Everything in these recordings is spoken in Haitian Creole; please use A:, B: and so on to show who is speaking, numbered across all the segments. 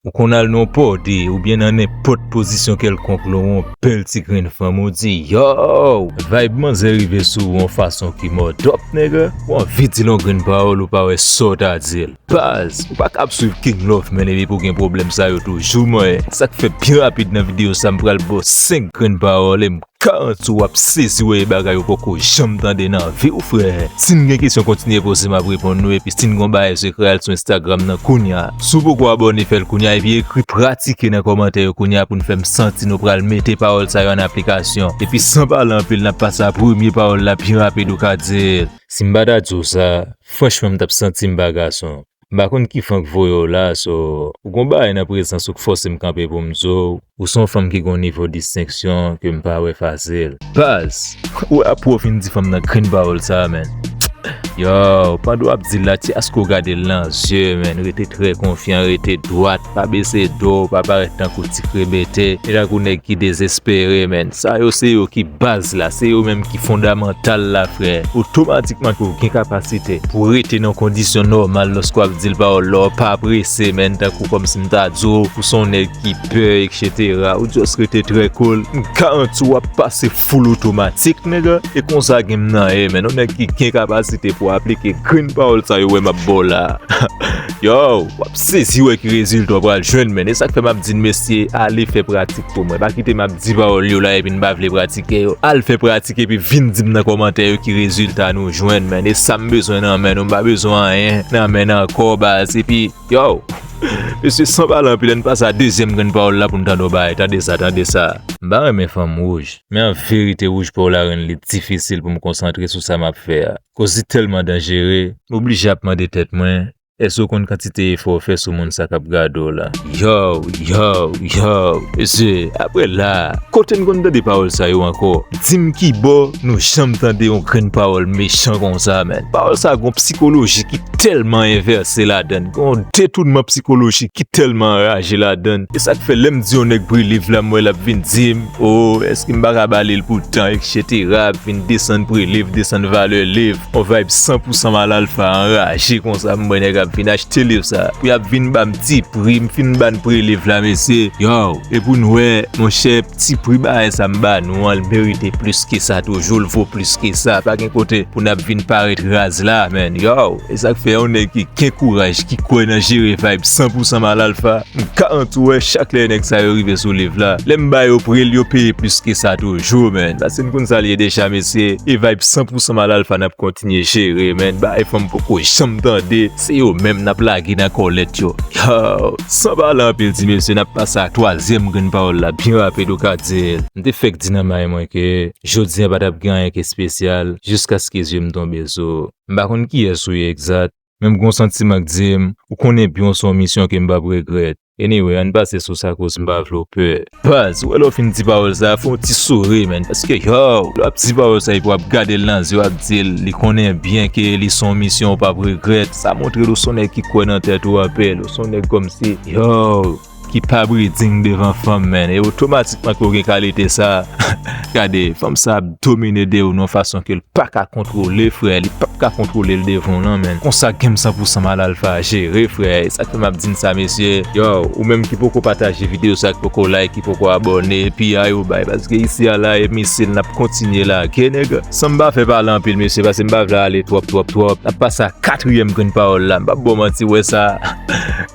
A: Ou konn al nan pòde oubyen nan nenpòt pozisyon kèlkonk lè w on bèl ti grenn fanm ou di Yow! Vayb manzè rive sou ou on fason ki mòdòp nègè, ou anvi di l on grenn pawòl ou pa wè sa w ta di l. Baz, ou pa kab swiv King Love men depi pou gen pwoblèm sa yo toujou manyen. Sa k fè byen rapid nan videyo sa m pral ba w 5 grenn pawòl e m. Karantz wap sezi wè e bagay ou poko janm tande nan viw frè, sin gen kesyon kontinye poze map reponn nou epi sin gon bagay sekrè al sou Instagram nan kounya, si w poko abòne fèl kounya epi ekri pratike nan kòmantè yo kounya pou n fèm santi nou pral mete pawòl sa yo an aplikasyon epi san pale anpil nap pase a premye pawòl la pi rapid ou ka di l. Sim pa ta diw sa, franchman m tap santim pa gason. M pa konn ki fan k voye w la so. Ou gon bagay nan prezans ou k fòse m kanpe pou m zo w. Ou s on fanm ki gon nivo distenksyon ke m pa wè fasil. Paz! Ou wè apre w fin di fanm nan grenn pawòl sa a menn. Yow! Pandan w ap di l la, ti aske w gade l nan zye menn. Rete trè konfyan, rete dwat. Pa bese do w, pa parèt tankou ti krebete, e tankou nèg ki dezespere menn. Sa yo se yo ki baz la, se yo menm ki fondamantal la frè. Otomatikman ke w gen kapasite pou w rete nan kondisyon nòmal lòske w ap di l pawòl la, w pa prese menn tankou kòmsi m ta di w ou se yon nèg ki pè eksetera, ou just rete trè cool, m garanti w w ap pase. Full automatic nigga e konsa game nan ye men yon nèg ki gen kapasite pou aplike grenn pawòl sa yo wè map baw la yow wap sezi wè ki rezilta w pral jwenn menn e sak fè map di mesye ale fè pratik pou mwen pa kite map di pawòl yo la epi nou pa vle pratike yo al fè pratik epi vin dim nan kòmantè yo ki rezilta nou jwenn menn e sam bezwen nan men nou m pa bezwen anyen nan men nan kò baz epi Yow! Mesye san pale anpil ann pase a dezyèm grenn pawòl la poun tande w bay, tande sa, tande sa. M pa renmen fanm wouj, men an verite wouj po w la rann li difisil pou m konsantre sou sa m ap fè a, koz li tèlman danjere. M oblije ap mande tèt mwen, èske w konn kantite efò w fè sou moun sa k ap gade w la? Yow! Yow! Yow! Mesye, aprè la a, kote n konn tande pawòl sa yo ankò? Dim kibò nou janm tande yon grenn pawòl mechan konsa menn. Pawòl sa gon psikoloji ki tèlman envèse ladann, gon detounman psikolojik ki tèlman anraje ladann. E sak fè lèm di yon nèg pre liv la m wè lap vin dim oo eske m paka balel pou tan eksetera ap vin desann pre liv, desann valè liv. Yon vayb san pou san mal alfa anraje konsa m wè nèg ap vin achte liv sa pou yap vin banm ti pri m fin bann pre liv la mesye yow e poun wè monchè. Ti pri bagay sa m ba nou an l merite plis ke sa toujou, l vo plis ke sa, pa gen kote pou nap vin parèt raz la man yow, esak fè yon nèg ki gen kouraj ki kwè nan jere vayb san pou san mal alfa, m ka antou wè chak lè nèg sa yo rive sou live la, lè m ba yo pri l yo peye plis ke sa toujou man, paske n konn sa l ye deja mesye, e vayb san pou san mal alfa nap kontinye jere man, bagay fanm poko janm tande. Se yo menm nap lage nan kòlèt yo. Yow! San pale anpil ti mesye nap pase a twazyèm grenn pawòl la byen rapid ou ka di l. M te fèk di nan may mwen ke jodi an pa tap gen anyen k espesyal jiskaske zye m tonbe sou ou. M pa konn kiyès ou ye egzat, men m gon santiman k di m ou konnen byen w se yon misyon ke m pap regrèt. Anyway ann pase sou sa koz m pa vle w pè. Baz, ou wè lè w fin di pawòl sa a, fè yon ti souri menn paske yow, lè w ap di pawòl sa epi w ap gade l nan zye w ap di l li konnen byen ke li se yon misyon ou p ap regrèt, sa montre l ou se yon nèg ki kwè nan tèt ou anpil, ou se yon nèg kòmsi, yow, ki pa briding devan fanm menn e otomatikman ke w gen kalite sa a. Gade fanm sa ap domine Deyoun yon fason ke l pa ka kontwole frè, li pap ka kontwole l devan w nan menn, konsa game 100 pou 100 mal alfa jere frè, e sak fè map di n sa mesye, yow ou menm ki poko pataje video sa ki poko like ki poko abòne piya yo bay paske isi a la e misil nap kontinye lage nèg, san m pa fè pale anpil mesye pase m pa vle ale twòp twòp twòp nap pase a katriyèm grenn pawòl la m pap ba w manti wè sa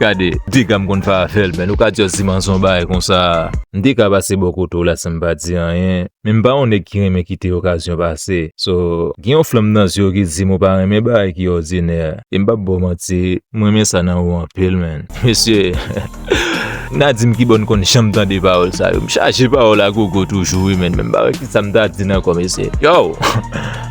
A: gade dega m konn fè avè l men nou ka just di manzon bay konsa. M te ka pase bò kote w la san m pa di anyen, men m pa yon nèg ki renmen kite okazyon pase. So, gen yon flanm nan zye w ki di m ou pa renmen bagay ki òdinè. E m p ap ba w manti, m renmen sa nan ou anpil menn. Mesye, m ta di m ki bò n konn janm tande pawòl sa yo. M chaje pawòl agogo toujou wi menn, men m pa wè kisa m ta di n ankò mesye. Yow!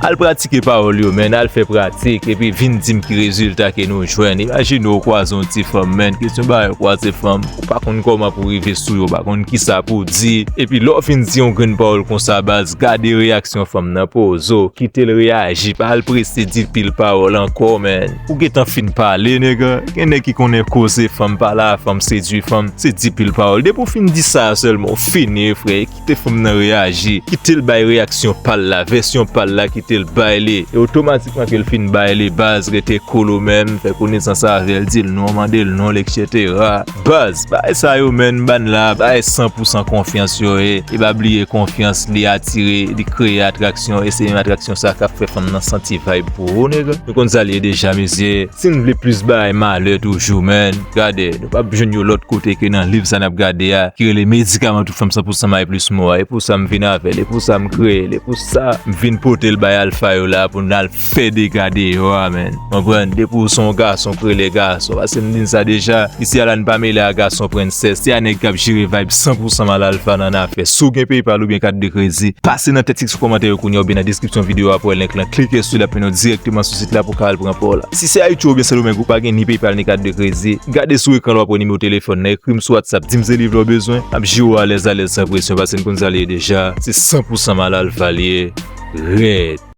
A: Al pratike pawòl yo menn al fè pratik epi vin dim ki rezilta ke nou jwenn imajine ou kwaze yon ti fanm menn kesyon bagay ou kwaze fanm ou pa konn kòman pou rive sou yo ou pa konn kisa pou di epi lè ou fin di yon grenn pawòl konsa baz gade reyaksyon fanm nan pozo kitel reyaji pa al prese di pil pawòl ankò menn ou gentan fin pale nègè gen nèg ki konnen koze fanm pale a fanm sedwi fanm se di pil pawòl depi ou fin di sa a sèlman ou fini frè. Kote fanm nan reyaji, kite l bay reyaksyon pa l la, vèsyon pa l la, kite l bay li. E otomatikman ke l fin bay li, baz rete kolo men, fè konesans avè l, di l non, mande l non l eksetera. Baz, bagay sa yo men, ba n la, bagay san pou san konfyans yo ye. E pa bliye konfyans li atire, li kreye atraksyon e se menm atraksyon sa k ap fè fanm nan santi vayb pou ou nèg. Nou konn sa l ye deja mesye. Sim vle plis bagay malè toujou man gade nou pap jwenn yo lòt kote ke nan liv sa nap gade a ki rele medikaman tout fanm 100 pousan may plis mò a e pou sa m vin avèl e pou sa m kreye l e pou sa m vin pote l bay alfa yo la pou n al fè dega deyò a man konprann depi w se yon gason k rele gason pase m di n sa deja isi a la n pa mele a gason prensès se a nèg kap jere vayb 100 pousan mal alfa nan afè si w gen paypal oubyen kat de kredi pase nan tèks ki sou kòmantè yo kounya oubyen nan deskripsyon videyo a pou wè link lan klike sou li ap mennen w dirèkteman sou sit la pou w ka al pran pa w la. Si se Ayiti oubyen Sendomeng ou pa gen ni PayPal ni kat de kredi, gade sou ekran la w ap wè nimewo telefòn nan, ekri m sou WhatsApp di m se liv la w bezwen, m ap jire w alèz alèz san presyon paske n konn sa l ye deja, se 100 pousan Malalfa l ye rèd.